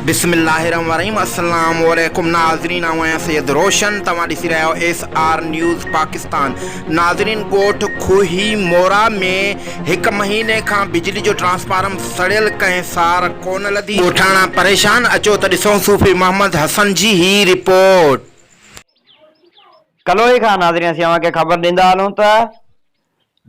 بسم الله الرحمن الرحيم السلام عليڪم ناظرين آئون آهيان سيد روشن توهان ڏسي رهيا آهيو ايس آر نيوز پاڪستان ناظرين ڳوٺ کوهي مورا ۾ هڪ مهيني کان بجلي جو ٽرانسفارم سڙيل ڪنهن سار ڪونه لڌي ڳوٺاڻا پريشان اچو ته ڏسون صوفي محمد حسن جي هي رپورٽ. ڪلوئي کان ناظرين اسين اوهان کي خبر ڏيندا هلون ته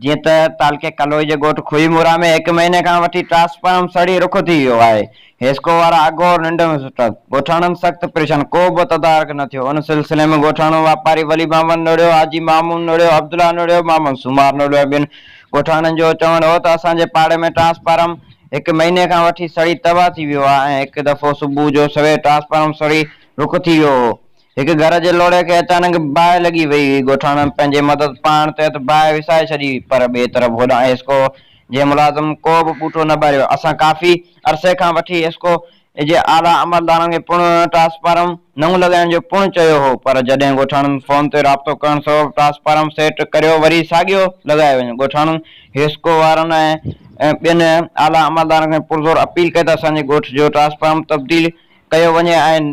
جيئن ته تعلقي ڪلوئي جي ڳوٺ خوهي مورا ۾ هڪ مهيني کان وٺي ٽرانسفارم سڙي رک ٿي ويو آهي، حيسڪو وارا اگهور ننڊ ۾ ستا، ڳوٺاڻن سخت پريشان، ڪو به تدارڪ نه ٿيو، ان سلسلي ۾ ڳوٺاڻو واپاري ولي محمد نوڙيو، حاجي محمود نوڙيو، عبدالله نوڙيو، محمد سومار نوڙيو ۽ ٻين ڳوٺاڻن جو چوڻ هو ته اسان جي پاڙي ۾ ٽرانسفارم هڪ مهيني کان وٺي سڙي تباهه ٿي ويو آهي ۽ هڪ دفعو صبح جو سوير ٽرانسفارم سڙي رک ٿي ويو هو هڪ گهر جي لوڙهي کي اچانڪ باهه لڳي ويئي هئي. ڳوٺاڻن پنهنجي مدد پاڻ تحت باهه وسائي ڇڏي هئي، پر ٻئي طرف هوڏانهن ايسڪو جي ملازم ڪو به ٻوٽو نه ٻاريو. اسان ڪافي عرصي کان وٺي ايسڪو جي اعليٰ عملدارن کي پڻ ٽرانسفارم نئون لڳائڻ جو پڻ چيو هو، پر جڏهن ڳوٺاڻن فون تي رابطو ڪرڻ سبب ٽرانسفارم سيٽ ڪريو وري ساڳيو لڳايو وڃي. ڳوٺاڻن ايسڪو وارن ۽ ٻين اعليٰ عملدارن کي پرزور اپيل ڪئي ته اسان جي ڳوٺ جو ٽرانسفارم تبديل ڪيو وڃي ۽